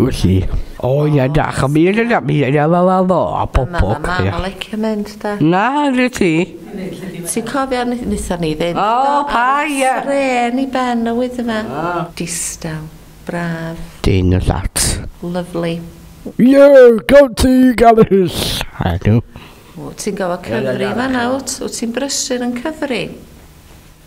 Wyt ti? O ia da, a mi yna da, mi yna fa fa fo, a pob pob. Mae mam yn licio mynd da. Na, dwi ti. Ti'n cofio nitha ni ddim. O, pa ia. Ren i ben y wyth yma. Distaw, braf. Dyn y llat. Lovely. Ie, gael ti gael hys. A dw. Ti'n gofio cyfri fan awt, wyt ti'n brysur yn cyfri.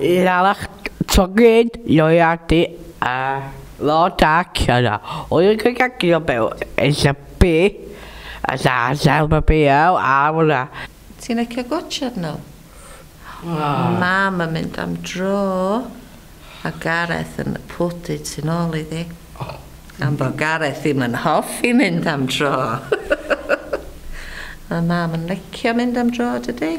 Llanach, Tocyn, Lloeardy a lot ac yna oedd y cygagydd o byw yn Llypi a Sasel Babiau a hwnna. Ti'n licio gwatshad nhw? Mam yn mynd am dro a Gareth yn y pwdin tu nôl iddi. Gan bod Gareth ddim yn hoffi mynd am dro. Mae mam yn licio mynd am dro dydy?